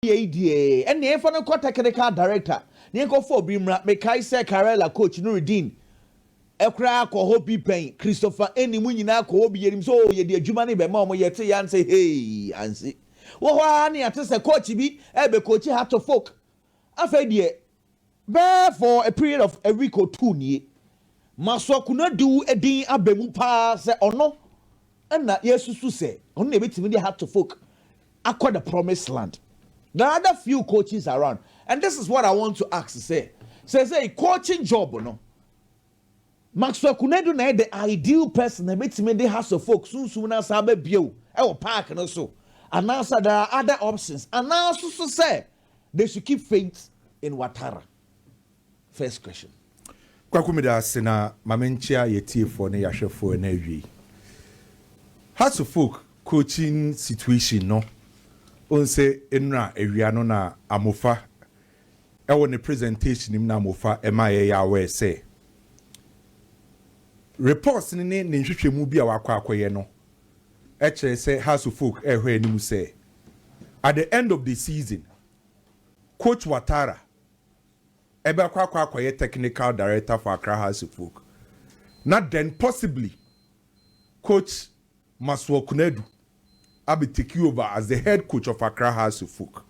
yei deɛ ɛnneɛ yɛmfa no nkɔ technical director na yɛnkɔfa obi mmra. Mekae sɛ Karela coach Nuruddin koraa kɔ hɔ bi pɛn, Christopher Enni, mo nyinaa kɔ hɔ bi, yɛnim sɛ oo yɛde adwuma no rebɛma wɔn, yɛteeɛ a sɛ hei ansi wɔ hɔ ara ne yɛate sɛ coach bi rebɛcoachi Heart of Oak. Afei deɛ Bɛɛ for a period of a week or two nie. Masoa Kunadu din aba mu paa sɛ ɔno na yɛresusu sɛ ɔno na yɛbɛtumi de Hartofolk akɔ the promised land. There are other few coaches around and this is what I want to ask sɛ, seesei coaching job no, Maxwell Kunadu na yɛ the ideal person a yɛbɛtumi de Hartofolk sunsum no asan aba bio wɔ park no so anaasɛ there are other options anaa nso so sɛ they should keep faith in Watara first question. Kwaku meda ase na ma me nkyea y'atiefoɔ ne y'ahwɛfoɔ ɛna awiei. Hearts of Oak coaching situation no wohu sɛ nnura awia no na Amofa ɛwɔ ne presentation mu na Amofa ɛma yɛyɛ aware sɛ reports no ne ne nhwehwɛmu bi a wakɔ akɔyɛ no kyerɛ sɛ Hasso Folk rehwɛ anim sɛ, At the end of the season, Coach Ouattara bɛkɔ akɔ akɔyɛ Technical Director for Accra Hasso Folk, na then possibly Coach Masuor Konadu abɛ take over as the head coach of Accra Hasso Folk.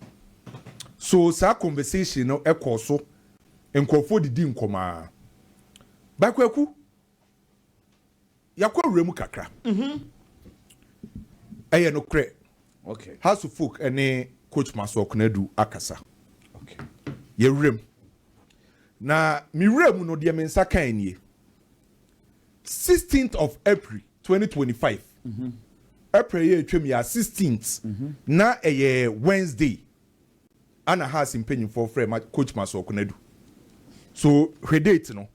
So saa conversation no kɔɔ so, nkurɔfoɔ didi nkɔmmɔ ara. By Kwaku, yɛakɔ wura mu kakra mhm. ɛyɛ nokorɛ okay. house of folk ɛne coach maso ɔkonadu akasa okay. yɛwuram na mewura mu no deɛ me nsa kan nie 16th of april 2025 mm -hmm. april yɛ atwam yɛ 16th mm -hmm. na ɛyɛ wednesday ana house mpanyimfoɔ frɛ ma coach maso ɔkonadu so hwɛ date no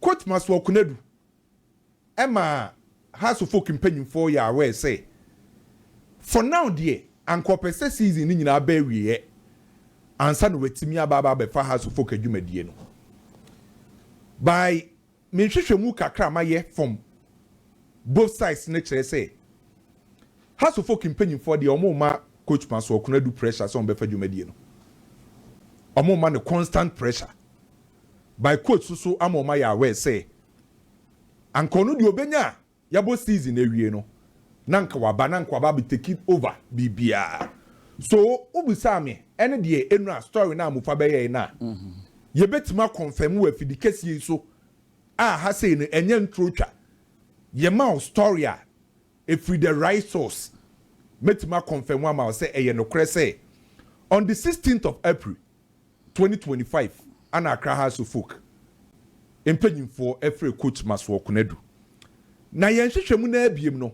Quote Masuaku Konadu ma Hearts of Oak mpanyimfoɔ yɛ aware sɛ, For now deɛ, anka ɔpɛ sɛ season no nyinaa ba awieɛ ansa na watumi aba aba abɛfa Hearts of Oak adwumadie no. By me nhwehwɛmu kakra a mayɛ from both sides no kyerɛ sɛ, Hearts of Oak mpanyimfoɔ deɛ wɔmma Coach Masuaku Konadu pressure sɛ wɔbɛfa dwumadie no. Wɔmma no constant pressure. by coach so so ama wɔayɛ aware sɛ anka ɔno deɛ ɔbɛnya a yɛabɔ season awie no na anka waba na anka waba abɛ take over biribiara so wobisaa me ɛne deɛ ɛnura story no a Mufa bɛyɛe no a mm-hmm. yɛbɛtumi akɔnfɛm wɔ afidi kɛseɛ yi so a ha sei no ɛnyɛ nturo twa yɛma wo story a ɛfiri the right source mɛtumi akɔnfɛm ama wo sɛ ɛyɛ nokorɛ sɛ on the 16th of April Twenty twenty five ana Accra House of Folk mpanyimfoɔ ɛfrɛ Coach Masoɔ Konadu. Na yɛn nhwehwɛmu no ara biem no,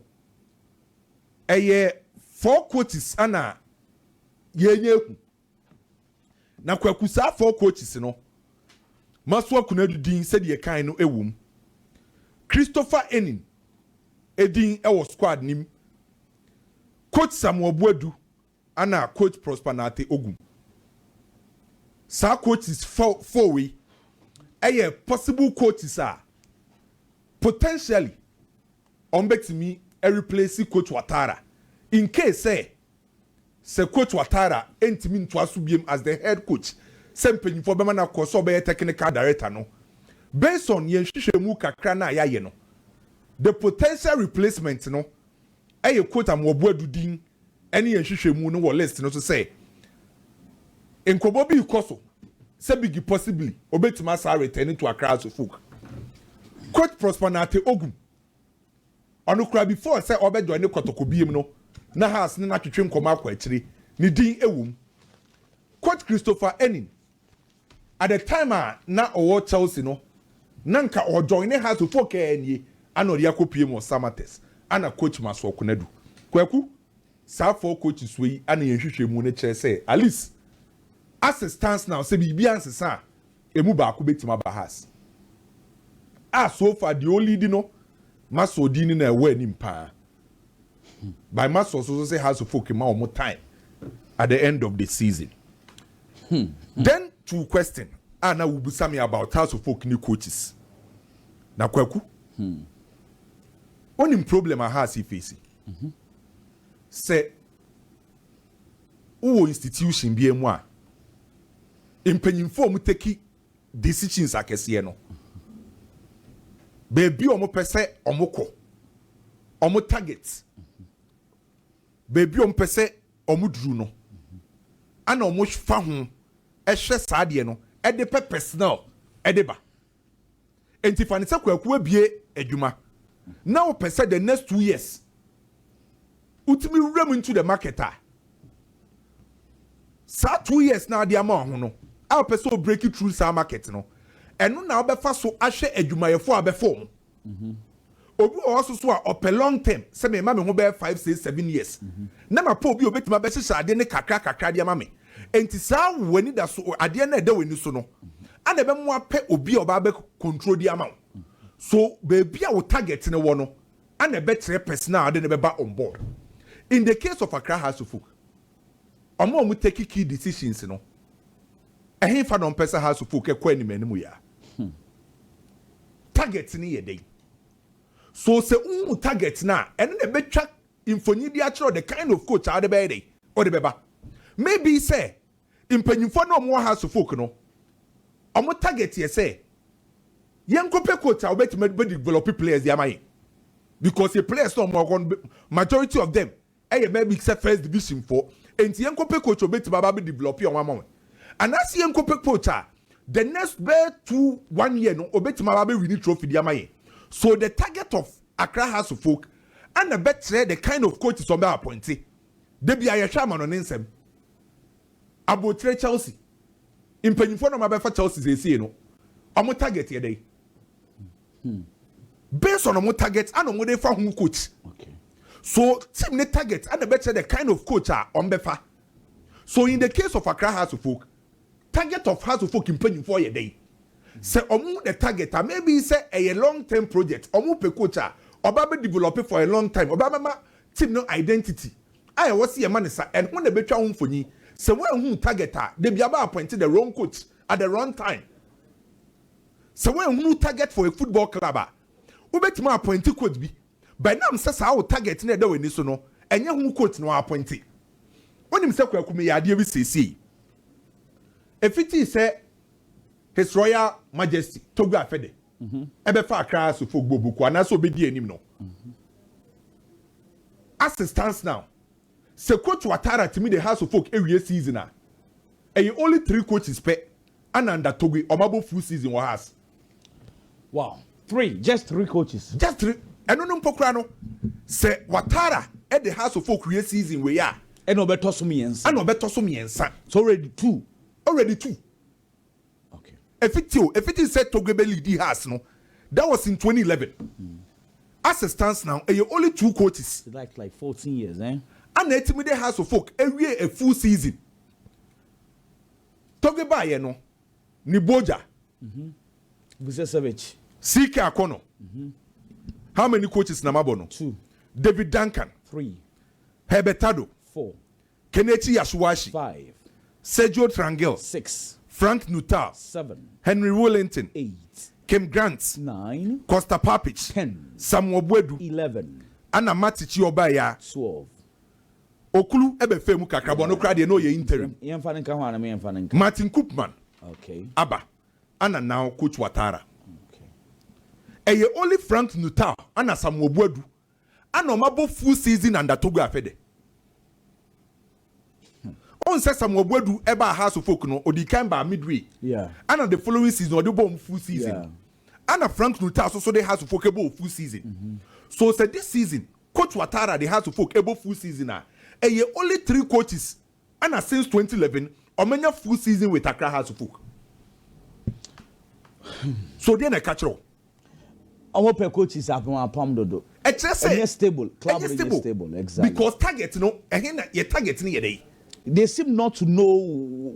ɛyɛ four coaches ana yɛnya ahu. Na Kwaku saa four coaches no, Masoɔ Konadu din sɛdeɛ yɛkae no ɛwɔ mu. Christopher Enin ɛdin ɛwɔ squad no mu. Coach Samuel Boadu Ana coach Prosper Nartey Ogum. Saa coaches four wei yɛ possible coaches a potentially wɔbɛtumi replace coach Watara in case sɛ sɛ coach Watara ntumi ntoa so biom as the head coach sɛ mpanyinfoɔ bɛma no akɔ sɛ ɔbɛyɛ technical director no. Based on yɛn nhwehwɛmu kakra no a yɛayɛ no, the potential replacement no yɛ coach Amoah Boadu din ɛne yɛn nhwehwɛmu no wɔ list no so sɛ nkɔmmɔ bi rekɔ so sɛ Biggie possibly obetumi asan return to Accra as Ofuk. Coach Prosper Nartey Ogum, ɔno koraa before sɛ ɔbɛjoin ne Kɔtɔkɔ biem no, na Hearts ne no atwetwe nkɔmmɔ akɔ akyire, ne din wom. Coach Christopher Enin, At the time a na ɔwɔ Chelsea no na nka ɔɔjoine Hearts foɔ kɛɛ nie a na ɔde akɔ piem wɔ Samatex a na coach Massoor Konadu. Kwaku, saa four coaches wei yi a na yɛn nhwehwɛmu no kyerɛ sɛ at least as it stands now sɛ biribi ansesa a ɛmu baako bɛtumi aba Hearts a so far deɛ ɔɔleadi no Massoor din no na ɛwɔ anim paa. By ma source so sɛ house folk ma wɔn time at the end of the season. Hmm. Then two question a na wobisa me about house folk ne coaches. Na kwaku. Hmm. Onim problem a house face. Mhm. Sɛ wowɔ institution bi mu a mpanyinfo a wɔteki decisions akɛseɛ no, baabi a wɔpɛ sɛ wɔkɔ, wɔn target, baabi a wɔpɛ sɛ wɔduru no, ɛna wɔfa ho hwɛ saa deɛ no de pɛ personnel de ba. Enti fa no sɛ Kwaku abue adwuma na wopɛ sɛ the next two years wotumi wura mu into the market a saa two years na ade ama ho no a wopɛ sɛ wobreak through saa market no ɛno na wobɛfa so ahwɛ adwumayɛfo a bɛfɔ mu Obi wɔ hɔ so so a ɔpɛ long term sɛ me ma me ho bɛyɛ five six seven years na ma pɛ obi a obetumi abɛhyehyɛ ade ne kakra kakra de ama me enti saa w'ani da so adeɛ no a ɛda w'ani so no ana ɛbɛmo apɛ obi a ɔba abɛ control de ama wo so baabi a wo target no wɔ no ana ɛbɛkyerɛ person a ɔde no bɛba on board in the case of Accra House of Folk Ɔmo a ɔmo take key decisions no, ɛhenfa na ɔmpɛ sɛ House of Folk kɔ anim anim yi a? Target no yɛ dɛn? So sɛ wohu target no a, ɛno na ɛbɛtwa mfoni de akyerɛ wo the kind of coach a wode bɛyɛ dɛn? Wode bɛba. Maybe sɛ mpanyimfoɔ no a ɔmo wɔ House of Folk no, ɔmo target yɛ sɛ yɛnkɔpɛ coach a ɔbɛtumi abɛdevelop players de ama yɛn because players no a ɔmo wɔ hɔ no, majority of them yɛ mma bi te sɛ first division foɔ enti yɛn kɔpɛ coach a obetumi aba abɛ develop wɔn ama wɔn anaasɛ yɛn kɔpɛ coach a the next bɛyɛ two one year no obetumi aba abɛ wini trophy de ama yɛn so the target of Accra Hearts of Oak ɛna bɛkyerɛ the kind of coaches wɔn bɛ appointe dabi a yɛhwɛ ama no ne nsɛm abotire Chelsea mpanyinfoɔ na wɔn abɛfa Chelsea siesie no wɔn target yɛ dɛ. Hmm. Based on wɔn target ana wɔn de fa ho coach. Okay. So team ne target ana bɛkyerɛ the kind of coach a wɔn bɛfa. So in the case of Accra Hearts of Oak, target of Hearts of Oak mpanyinfoɔ yɛ dɛn? Sɛ wɔn the target a maybe sɛ ɛyɛ long term project wɔn pɛ coach a ɔba bɛ develop for a long time ɔba bɛ ma team no identity a ɛwɔ si yɛ ma ne sa ɛho na ɛbɛtwa ho mfonyin sɛ wɔn ehu target a debi aba appoint the wrong coach at the wrong time. Sɛ woanhunu wo target for a football club a, wobɛtumi aapɔinte coach bi, but ɛnam sɛ saa wo target no a ɛda w'ani so no, ɛnyɛ ho coach na wɔaapɔinte. Wonim sɛ Kwaku meyɛ adeɛ bi seesei. Ɛfitii sɛ His Royal Majesty Togo Afede ɛbɛfa Accra Asufo Bɔ Boko anaasɛ ɔbɛdi anim no, as it stands now, Sɛ coach Ouattara tumi de Hearts of Oak awie season a, ɛyɛ only three coaches pɛ ɛna under Togui ɔmo abɔ full season wɔ Hearts. Wow! Three! Just three coaches? Just three! Ɛno no mpo koraa no, sɛ Ouattara de Hearts of Oak wie season wei a, ɛna ɔbɛtɔ so mmiɛnsa. Ɛna ɔbɛtɔ so mmiɛnsa. So already two. Already two. Efiti o, efiti sɛ Togo bɛ leadi Hearts no, that was in twenty eleven. As it stands now, ɛyɛ only two coaches a na atumi de Hearts of Oak awie a full season. Togo baeɛ no, ne Boja, Vucesevic, CK Akɔnɔ, how many coaches na mabɔ no? David Duncan, Herbert Tado, Kenichi Yasuashi, Sergio Trangil, Frank Nuttall, Henry Woolington, Kim Grant, Kosta Papic, Samuel Boadu, ɛna Mate Chi ɔbaeɛ a Okulu bɛfaa mu kakra bɔ no koraa deɛ na ɔyɛ interim. Martin Koopman aba ɛna now Coach Watara. Ɛyɛ only Frank Nuttall ɛna Samuel Boadu ana ɔmo abɔ full season under Togo afɛ dɛ? Hmm. Ɔn sɛ Samuel Boadu ɛbaa Hearts of Oak no, ɔdii kan baa midway. Yeah. Ana the following season ɔde bɔɔ ɔmo full season. Yeah. Ana Frank Nuttall soso de Hearts of Oak ɛbɔɔ full season. Mm -hmm. So sɛ this season, Coach Watara de Hearts of Oak ɛbɔ full season a, ɛyɛ only three coaches Ana since twenty eleven ɔmanya full season with Accra Hearts of Oak so deɛ na ɛka kyerɛ wo? Ɔmo pɛ coaches a wɔn apam dodo. Ɛkyerɛ sɛ Ɛnyɛ stable, club no nyɛ stable, exactly. because target no ɛhe na yɛ target no yɛ dɛ? They seem not to know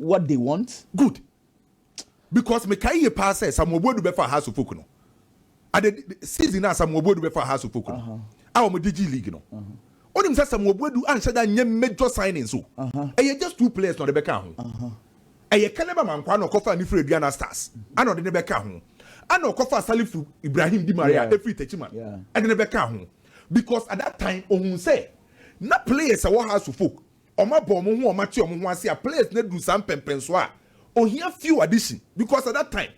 what they want. Good. because me kae yie paa sɛ Samuel Boadu bɛfa Hearts of Oak no ade season a Samuel Boadu bɛfa Hearts of Oak no uh-huh. a wɔn de gye league no onim uh-huh. sɛ Samuel Boadu anhyɛ da nyɛ major signing so uh-huh. ɛyɛ just two players na ɔde bɛka ho ɛyɛ Caleb Amankwa na ɔkɔfa Anifere Aduana Stars ana ɔde ne bɛka ho ana ɔkɔfa Salifu Ibrahim Di Maria efiri Techiman ɛde ne bɛka ho because at that time ohun sɛ na players ɛwɔ Hearts of Oak wɔn abɔ wɔn ho wɔn ate wɔn ho ase a players no aduru saa mpɛmpɛnsoɔ a ohia few addition because at that time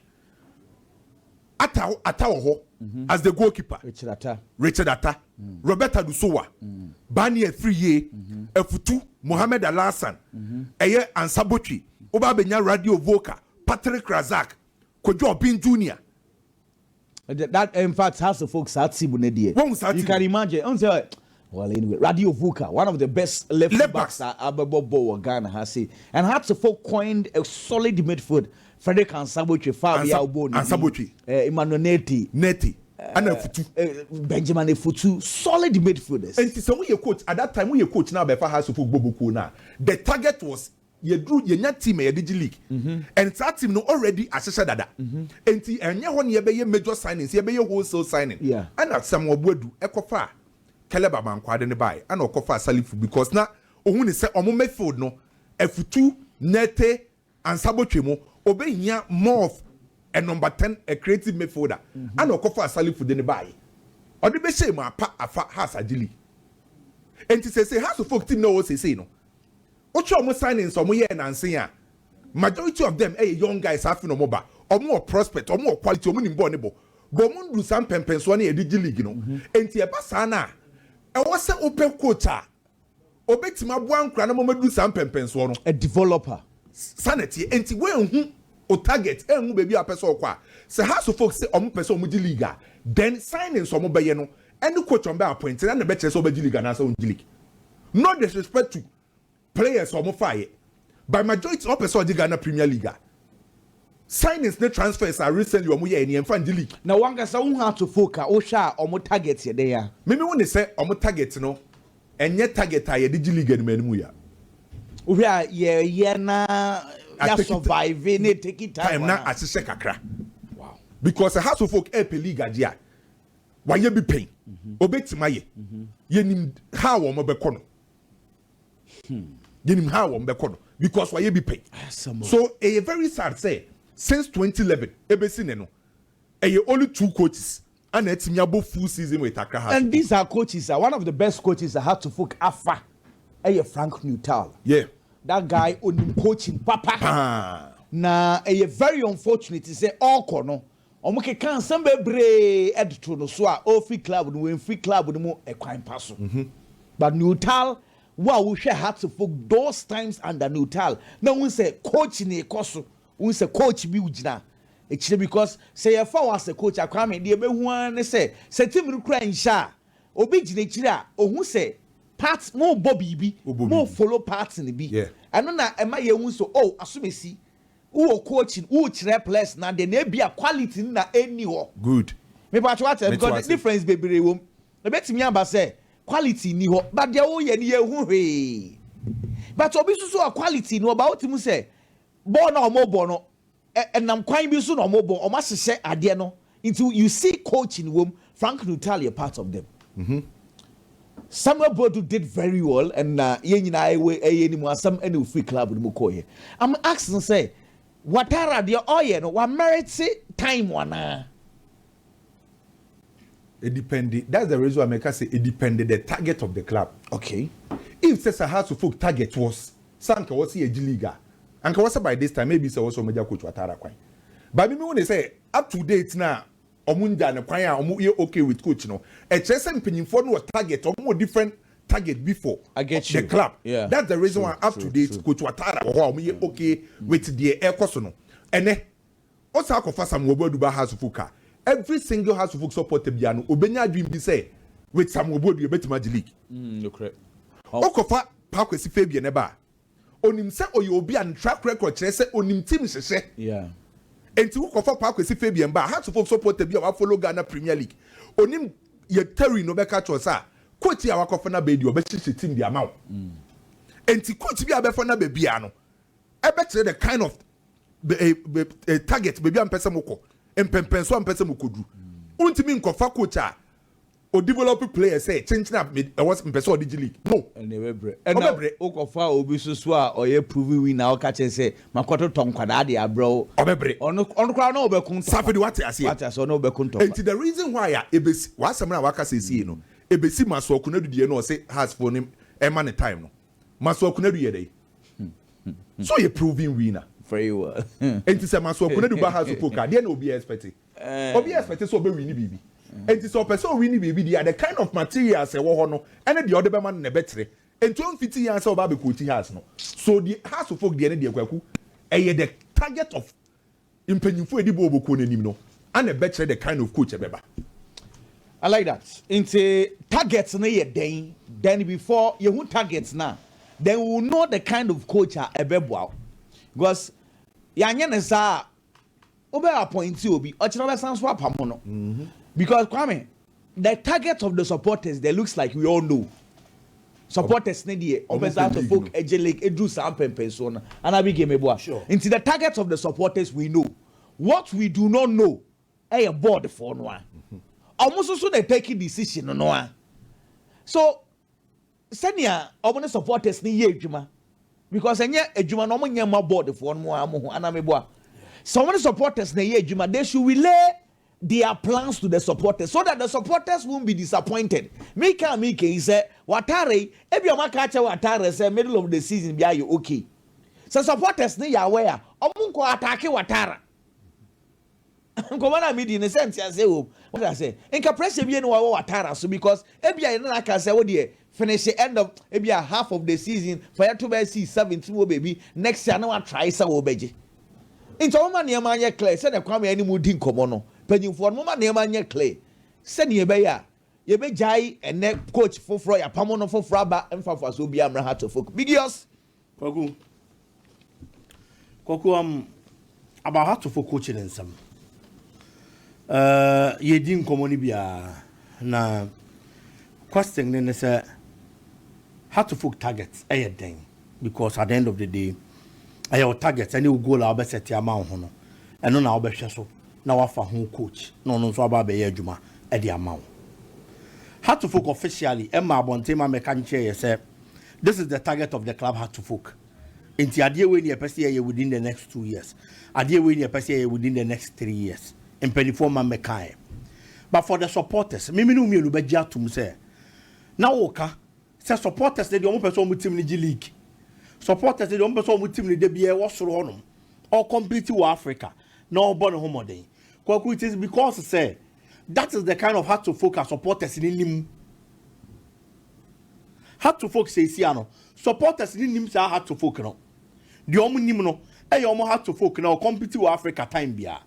ata ata wɔ hɔ mm-hmm. as the goalkeeper richard ata richard ata mm. robert adusowa mm. bani afiriye mm-hmm. afutu mohammed alasan mm-hmm. ɛyɛ ansabotwe wobaa bɛnya radio vocal patrick razak kojú ọbin junior That in fact has a folk saa team ne deɛ. Wɔn saa team. You can imagine. N sɛ well anyway Radio Vuka one of the best left, left backs a abɛbɔ bɔ wɔ Ghana ha se and has a folk coined a solid midfield Frederick Ansabotwe fa bi a ɔbɔ ne Ansabotwe eh, Emmanuel Neti Neti ana eh, Afutu eh, Benjamin Afutu solid midfielders. Nti sɛ mo yɛ coach at that time mo yɛ coach na abɛfa has a folk bɔ bokuo na the target was Yɛduru yɛnya team a yɛde gye league and saa team no already ahyehyɛ dada nti ɛnyɛ hɔ na yɛbɛyɛ major signings yɛbɛyɛ wholesale signing. Ɛna Samuel Boadu kɔfaa Caleb Amankwaa de no baeɛ ɛna ɔkɔfaa Salifu because na ɔhu no sɛ wɔn midfield no Afutu, Nerte, Ansah botwe mu ɔbɛhia more of a number ten a creative midfielder ɛna ɔkɔfaa Salifu de no baeɛ ɔde bɛhyɛɛ mu apa afa Hearts agye league nti seesei Hearts of Oak team no a ɛwɔ hɔ seesei no Wohwɛ ɔmo signings a ɔmo yɛɛ nansa yi a, majority of them yɛ young guys a afe na ɔmo ba. Ɔmo wɔ prospect, ɔmo wɔ quality, ɔmo nim bɔɔl no bɔ. But ɔmo nduru saa mpɛnpɛnsoɔ no a yɛde gye league no. Enti ɛba saa no a, ɛwɔ sɛ wopɛ coach a obetumi aboa nkwadaa no ma wɔaduru saa mpɛnpɛnsoɔ no. A developer. Saa na ɛteɛ. Enti woanhu wo target, anhu baabi a wopɛ sɛ wokɔ a, sɛ Hearts of Oak se wɔpɛ sɛ wɔgye league a, then signings a wɔbɛyɛ no, Any coach ɔmbɛ appoint na na ɛbɛkyerɛ sɛ ɔbɛgye league anaasɛ ɔnngye league. No disrespect to players a ɔmo faeɛ, by majority ɔpɛ sɛ ɔgye Ghana Premier League a, signings ne transfers a recently ɔmo yɛɛ nie ɛmfa nngye league. Na wankasa wo hu ato folk a wo hwɛ a ɔmo target yɛ dɛn a? Me me hu ne sɛ ɔmo target no ɛnyɛ target a yɛde gye league anim anim ya. Wo hwɛ a yɛ yɛ na ya survive na ɛteki time ana? Time na ahyehyɛ kakra. Wow. Because sɛ Hearts of Oak ɛɛpɛ league agye a, Wayɛ bi pɛn. Obetumi ayɛ. Yɛnim ha a wɔn bɛkɔ no. Hmm. Yɛnim ha a wɔn bɛkɔ no because wayɛ bi pɛn. So ɛyɛ very sad sɛ since 2011 ebesi ne no ɛyɛ only two coaches ana ɛtumi abɔ full season with Accra Hearts. And these are coaches uh, one of the best coaches uh, Hearts folk afa ɛyɛ Frank Nuttall. Yeah. That guy onim coaching papa. Paa. Na ɛyɛ very unfortunate sɛ ɔkɔ no. Wɔkekaa nsɛm bebree de too no so a ɔrefi club no mu, mfi club no mu kwan pa so. But Nuttall, wo a wohwɛ Hearts fo those times under Nuttall na wohu sɛ coach na ɛkɔ so, wohu sɛ coach bi gyina akyire because sɛ yɛfa wo asɛ coach a, Kwame, deɛ ɛbɛhu ara ne sɛ, sɛ team no kura nhyɛ a, obi gyina akyire a ɔhu sɛ part, morebɔ biribi, morefollow part no bi. Ɛno na ɛma yɛhu sɛ oh, Asomasi Wo wɔ coaching wo kyerɛ players no ade na ebia quality no na ɛnni hɔ. Good. Me pakyɛ wate aseɛ because difference bebree wɔ mu. Ɛbɛtumi aba sɛ quality nni hɔ but deɛ wo yɛ no yɛ hu hwee. But obi nso so a quality no wɔ but wo te mu sɛ bɔɔl no a wɔn bɔ no ɛnam kwan bi so na wɔn bɔ wɔn ahyehyɛ adeɛ no Nti you see coaching wom, Frank Nuttall yɛ part of them, Samuel Boadu did very well and na yɛn nyinaa ɛyɛ anim asɛm ɛna ofiri club no mu kɔeɛ. I'm asking sɛ Watara deɛ ɔyɛ no wa merite time anaa? Edepende, that's the reason why meka sɛ edepende the target of the club. Okay. If sɛ Sahaso folk target was sɛ anka wɔse yɛgye league a, anka wɔsɛ by this time maybe sɛ wɔsɛ wɔmɛgya coach Watara kwan. But me mehu ne sɛ Up to date no a ɔmo ngyaa no kwan a ɔmo yɛ ok with coach no ɛkyerɛ sɛ mpanyinfoɔ no wɔ target ɔmo wɔ different target bi for the club that's the reason why up to date coach watara wɔ hɔ a ɔmo yɛ ok with deɛ ɛkɔ so no ɛnɛ ɔsan akɔ fa samuel boadu ba house folk a every single house folk supporter biara no ɔbɛnya adwene bi sɛ with samuel boadu yɛbɛtumi agye league ɔkɔ fa pakwasi fabian ɛba a. Onim sɛ ɔyɛ obi a ne track record kyerɛ sɛ onim team hyehyɛ. Enti wokɔfa Paul Kwesi Fabian ba a, Hearts of Oak supporter bi a wafollow Ghana Premier League, onim yɛ Terry no bɛka akyerɛ wo sɛ, ah, coach yi a wakɔfa no aba yi deɛ, ɔbɛhyehyɛ team de ama wo. Enti coach bi a bɛfa no aba biara no, ɛbɛkyerɛ the kind of target, baabi a mopɛ sɛ mokɔ, mpɛmpɛnsoɔ a mopɛ sɛ mokɔduru. Wontumi nkɔfa coach a O develop player sɛ kyenkyen a me ɛwɔ sɛ mepɛ sɛ ɔde gye league no. Ɛnna ɛbɛbrɛ. Ɛnna Ɔbɛbrɛ. wokɔfa obi nso so a ɔyɛ proven winner a woka kyerɛ no sɛ makɔtotɔ nkwadaa de abrɛ wo. Ɔbɛbrɛ. Ɔno ɔno koraa ɔne wo bɛko ntɔkwa. Safedi wate aseɛ. Wate aseɛ ɔne wo bɛko ntɔkwa. Nti the reason why a ɛbɛsi w'asɛm no a waka seesei yi no ɛbɛsi Masuaku Konadu deɛ no ɔse Hearts foɔ no ɛmma no time no Masuaku Konadu yɛ dɛn? Sɛ ɔyɛ proven winner. Very well. Nti sɛ Masuaku Konadu ba Hearts foɔ ka deɛ na obiara expecte? Obi expect sɛ ɔbɛwini biribi, enti sɛ ɔpɛ sɛ ɔwini biribi deɛ a, the kind of materials a ɛwɔ hɔ no ne deɛ wode bɛma no na ɛbɛkyerɛ, enti ɔmfiti yɛn sɛ ɔba abɛquote Hass no. So deɛ Hass folk deɛ no deɛ, Kwaku, ɛyɛ the target of mpanyimfoɔ a ɛdi bɔɔlbɔkuo no anim no na ɛbɛkyerɛ the kind of coach a ɛbɛba. I like that. Nti target no yɛ dɛn? Then before yɛhu target no a, then we will know the kind of coach a ɛbɛboa wo. Because yɛanyɛ no saa a, wobɛ appoint obi ɔkyena wobɛsan nso apamo no because Kwame the target of the supporters there looks like we all know supporters ne deɛ ɔmpɛ saa to folk ɛgye lake ɛduru saa mpɛmpɛnsoɔ no ana bi game boa nti the target of the supporters we know what we do not know ɛyɛ board foɔ no a ɔmo soso na take decision no a so Sɛnea wɔn ne supporters no yɛ adwuma because ɛnyɛ adwuma no wɔn nyɛ mma board foɔ no ara mo ho anaa meboa sɛ wɔn ne supporters na ɛyɛ adwuma they should relay their plans to the supporters so that the supporters won't be disappointed me ka me ka yi sɛ watare yi ebi wɔn aka akyɛ watare sɛ middle of the season bi ayɛ okay sɛ supporters no yɛ aware a wɔn nkɔ atake watara. Nkɔmmɔ no a midii no sɛ nteaseɛ wɔ mu. Wokra sɛ nka pressure wie na wawɔ w'ataaraa so because ebia yɛne no aka sɛ wodeɛ finish end of ebia half of the season fa yɛto bɛyɛ season seventeen wɔ baabi next year na watry sɛ wobɛgye. Nti ɔmoma nneɛma nyɛ clear sɛdeɛ Kwame ɛne mo di nkɔmmɔ no panyinfoɔ no momma nneɛma nyɛ clear sɛdeɛ ɛbɛyɛ a yɛbɛgyae ɛnɛ coach foforɔ yɛapamo no foforɔ aba mfa mfasoɔ biara mmra Hearts of Oak bigios. Kwaku, Kwaku um, about how to for coaching nsɛm. Uh, yɛdi nkɔmmɔ no biara na question ne ne sɛ how to folk target ɛyɛ dɛn because at the end of the day ɛyɛ wo target ɛne wo goal a wobɛsɛte ama wo ho no ɛno na wobɛhwɛ so na wafa ho coach na ɔno nso aba abɛyɛ adwuma ɛde ama wo how to folk officially ɛma abɔnten ma mɛka nkyerɛ yɛ sɛ this is the target of the club had to folk nti adeɛ wei ne yɛpɛ sɛ yɛyɛ within the next two years adeɛ wei ne yɛpɛ sɛ yɛyɛ within the next three years mpanimfoɔ ma mmɛkaeɛ but for the supporters mimi ne wo mmienu bɛgye atom sɛ na woka sɛ supporters ne deɛ wɔpɛ sɛ wɔn tim no gye league supporters ne deɛ wɔpɛ sɛ wɔn tim no da biara wɔ soro hɔnom ɔcompete wɔ africa na ɔbɔ ne ho mmɔden kwaku it is because sɛ that is the kind of heart to focus supporters ne nim Heart to folk seesie a no supporters no nim saa heart to folk no. Deɛ wɔn nim no yɛ wɔn heart to folk no a ɔcompete wɔ Africa time biara.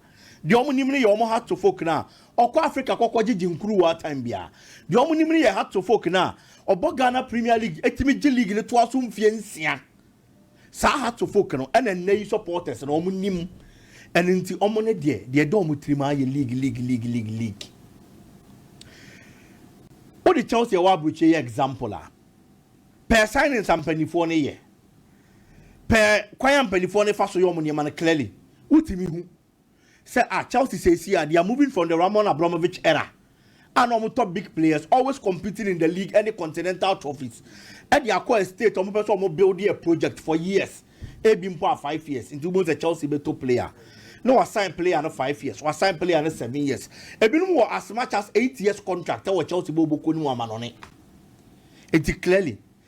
Deɛ wɔn nim no yɛ wɔn heart to folk no a ɔkɔ Africa kɔkɔgyegye nkuruwaa time biara. Deɛ wɔn nim no yɛ heart to folk no a ɔbɔ Ghana Premier League tumi gye league no toa so mfeɛ nsia Saa Hartsofolk no na nnɛ yi supporters no wɔn nim. Ɛno nti wɔn ne deɛ deɛ ɛda wɔn tirim ara yɛ league league league league league. Wode Chelsea ɛwɔ aburokyire yɛ example a, pɛɛ signings a mpanimfoɔ no yɛ, pɛɛ kwan a mpanimfoɔ no fa so yɛ wɔn nneɛma no clearly wotumi hu sɛ ah Chelsea seesei a they are moving from the Roman Abramovich era a na wɔn tɔ big players always competing in the league ɛne continental trophies ɛde akɔ a state wɔn pɛ sɛ wɔn build a project for years ebi mpo a five years nti wɔn sɛ Chelsea bɛ to player na wasan player no five years wasan player no seven years ebinom wɔ as much as eight years contract ɛwɔ Chelsea bɔ oboko ne mu amanɔne nti clearly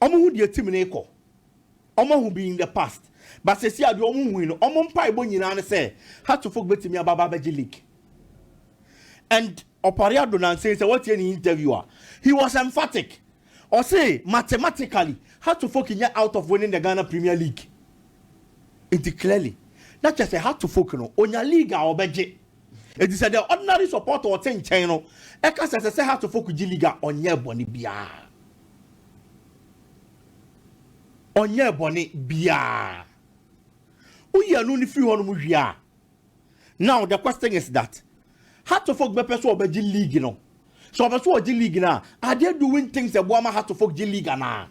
Ɔmo hu deɛ team no rekɔ. Ɔmo ahu bi in the past but seesei adeɛ ɔmo hui no ɔmo mpaebɔ nyinaa ne sɛ Hearts of Oak bɛtumi aba aba abɛgye league. And Ɔpare Addo nansa yi sɛ woatie ne interview a he was emphatic. Ɔse mathematically Hearts of Oak nyɛ out of winning the Ghana Premier League. Nti clearly na kyerɛ sɛ Hearts of Oak no ɔnya league a ɔbɛgye. Enti sɛ deɛ ordinary supporter a ɔte nkyɛn no ɛka sɛ ɛsɛ sɛ Heartsfo kogye league a, ɔnyɛɛ bɔne biara. Ɔnyɛɛ bɔne biara. Woyi ɛno no firi hɔnom wie a, now the question is that Heartsfo bɛpɛ sɛ ɔbɛgye league no. Sɛ ɔpɛ sɛ ɔgye league no a, are they doing things a ɛboa ma Heartsfo gye league anaa?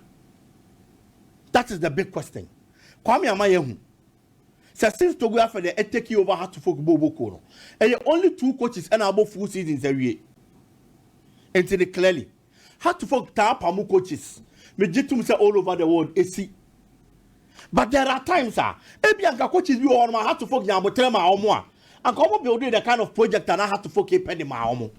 That is the big question. Kwame ama yɛahu Sɛ since Togo afɛ deɛ ɛ take over Hearts of Oak bɔ ɔbɔ kuo no, ɛyɛ only two coaches ɛna abɔ full seasons awie. Nti no clearly Hearts of Oak taa pamo coaches, me gye tom sɛ all over the world ɛsi. But there are times a ɛbi a nka coaches bi wɔ hɔ nom a Hearts of Oak nya aboterɛ maa wɔn a, anka wɔn building the kind of project a na Hearts of Oak ɛpɛ de maa wɔn.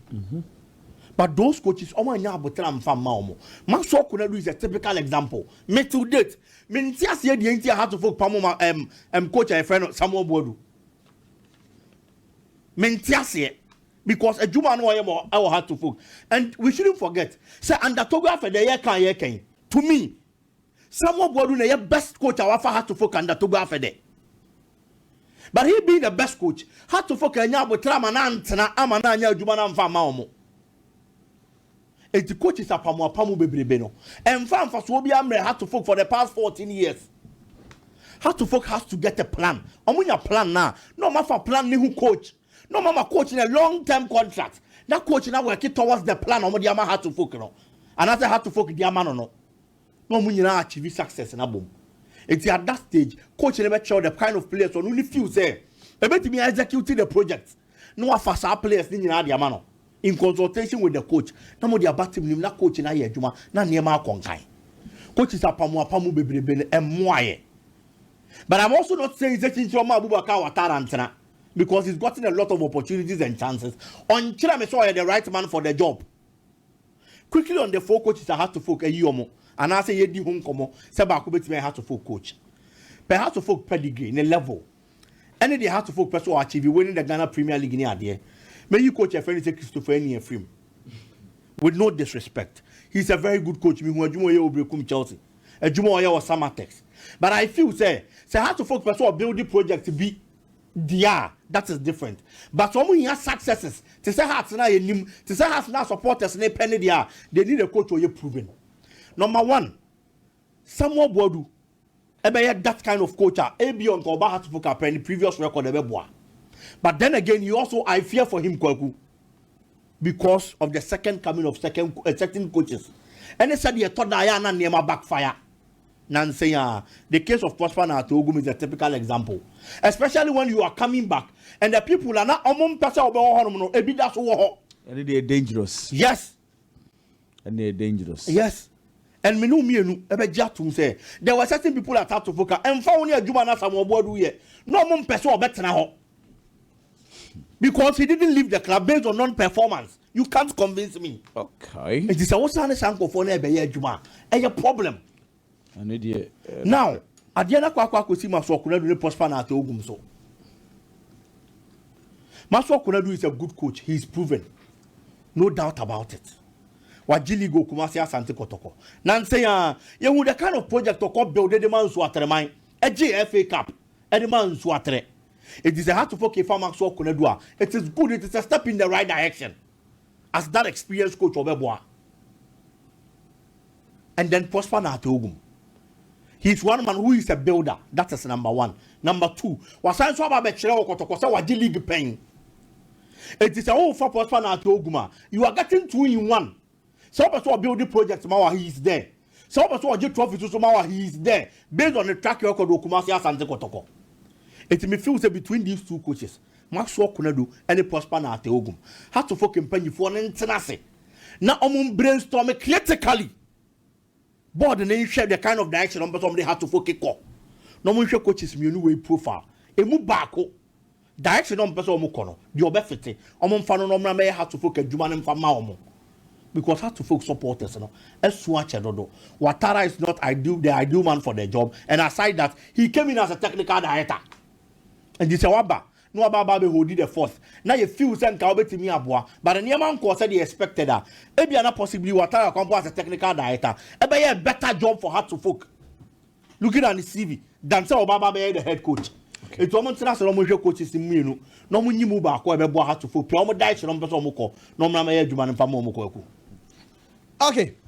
But those coaches wɔn annya aboterɛ amfa mma wɔn. Maxwell Konadu is a typical example. Me till date, Me nte aseɛ deɛ nti a Hearts of Oak pamo ma ɛm ɛm coach a yɛfrɛ no Samuel Boadu. Me nte aseɛ because adwuma no ɔyɛ ma ɛwɔ Hearts of Oak and we shouldn't forget sɛ under Togo afɛ deɛ yɛka a yɛka yi to me Samuel Boadu na ɛyɛ best coach a wafa Hearts of Oak under Togo afɛ dɛ. But he being the best coach, Hearts of Oak anya abotra ama na antena ama na anya adwuma na amfa ama wɔn. Enti coaches apamuapamu bebrebe no ɛnfa nfasoɔ biara mmerɛ Hartlefolk for the past fourteen years. Hartlefolk has to get a plan. Ɔmo nya plan no a, na ɔmo afa plan no ho coach. Na ɔmo ama coach no a long term contract. Na coach no a work towards the plan a ɔmo de ama Hartlefolk no. Anaasɛ Hartlefolk de ama no no. Na ɔmo nyinaa achieve success no abom. Enti at that stage, coach no bɛkyerɛw the kind of players ɔno ne feel sɛ ɛbɛtumi a execute the project. Na wafa saa players no nyinaa de ama no. In consultation with the coach, na mode aba team no mu na coach no ayɛ adwuma na nneɛma akɔ nkan. Coaches apamu apamu bebrebe no ɛmmoa yɛn. But I'm also not saying sɛ Kyinkyin ɔma Abubakar Ouattara ntena because he's gotten a lot of opportunities and chances. Ɔnkyerɛ me sɛ ɔyɛ the right man for the job. Quickly on the four coaches a Hasofolk ayi wɔn anaasɛ yɛadi ho nkɔmmɔ sɛ baako bɛtumi ayɛ Hasofolk coach. Pɛ Hasofolk pedigree, ne level. Ɛne deɛ Hearts of Oak pɛ sɛ ɔ achieve, winning the Ghana Premier League ne adeɛ. Mɛyi coach a yɛfrɛ no sɛ Christopher Ani afiri mu. With no disrespect, he is a very good coach, mehu adwuma a ɔyɛ wɔ Berekum Chelsea, adwuma a ɔyɛ wɔ Samatex. But I feel sɛ, sɛ Hearts of Oak pɛ sɛ ɔ build project bi deɛ a, that is different. But sɛ wɔhia successes te sɛ Hearts no a yɛnim, te sɛ Hearts no a supporters no pɛ no deɛ a, they need a coach a ɔyɛ proven. Number one, Samuel Boadu, Ɛbɛyɛ that kind of coach a ebia nka ɔba Heartsfo ka pɛ ne previous record a ɛbɛboa but then again he also I fear for him Kwaku because of the second coming of second uh, certain coaches ɛne sɛdeɛ ɛtɔ da a yɛ a na nneɛma backfire nansen a the case of Prosper na Atogum is a typical example especially when you are coming back and the people a na ɔmo mpɛ sɛ ɔbɛwɔ hɔnom no ebi da so wɔ hɔ ɛne deɛ dangerous yes Ɛna ɛyɛ dangerous. Yes and me ne wo mmienu bɛgye atom sɛ there were certain people that had to vocal ɛmfa wo ne adwuma no Asamoah Boadu yɛ na ɔmo mpɛ sɛ ɔbɛtena hɔ because he didn't leave the club based on non performance you can't convince me Okay. nti sɛ wosan ne saa nkurɔfoɔ no ɛbɛyɛ adwuma a ɛyɛ problem Now adeɛ no akɔ akɔ akɔsi Masuo Konadu ne Prosper Nartey Ogum so. Masuo Konadu is a good coach, he is proven. No doubt about it. Wagye league wɔ Kumasi Asante Kɔtɔkɔ. Nansa yi ara, yɛhu the kind of project ɔkɔ build de ma Nsuo Atreman. Ɛgyee FA Cup de maa Nsuo Atre. Enti sɛ Hearts of Oak fa Masuo Konadu a, it is good, it is a step in the right direction. as that experienced coach ɔbɛboa and then Prosper Nateogum he is one man who is a builder that is number one number two wasan nso aba abɛkyerɛ wɔ kɔtɔkɔ sɛ wagye league pɛn eti sɛ wofa Prosper Nateogum a you are getting two in one. Sɛ wopɛ sɛ ɔbuild project ma wo a he is there. Sɛ wopɛ sɛ ɔgye trophies nso ma wo a he is there based on ne track record wɔ Kumasi, Asante Kotoko. Enti me feel sɛ between these two coaches, Maxwell Konadu ne Prosper Nartey Ogum, Hato Foke mpanyifoɔ no ntena ase na wɔn brainstɔme critically. Board no nhwɛ the kind of direction a wɔpɛ sɛ wɔde ha to foke kɔ, na wɔnhwɛ coaches mmienu wei profile. Emu baako, direction a wɔpɛ sɛ wɔkɔ no, deɛ ɔbɛfete, wɔmfa no na ɔmmra mmɛyɛ Hearts of Oak adwuma no mfa mma wɔn. Because Hearts of Oak supporters no asu akyɛ dodo. Watara is not ideal, the ideal man for the job and aside that, he came in as a technical director. Nti sɛ waba, na waba aba abɛholdi the fort na yɛ feel sɛ nka wobɛtumi aboa but nneɛma nkɔɔ sɛdeɛ expected a, ebia na possibly Watara Kwampong as a technical director ɛbɛyɛ a better job for her to folk looking at ne CV than sɛ ɔba aba abɛyɛ the head coach. Okay. Nti wɔn ntena ase na wɔn nhwɛ coaches mmienu na wɔn nyi mu baako a ɛbɛboa her to folk pia wɔn direction na wɔn pɛ sɛ wɔn kɔ na wɔn nam ɛyɛ adwuma no mfa ma wɔn kɔ ɛku. Okay,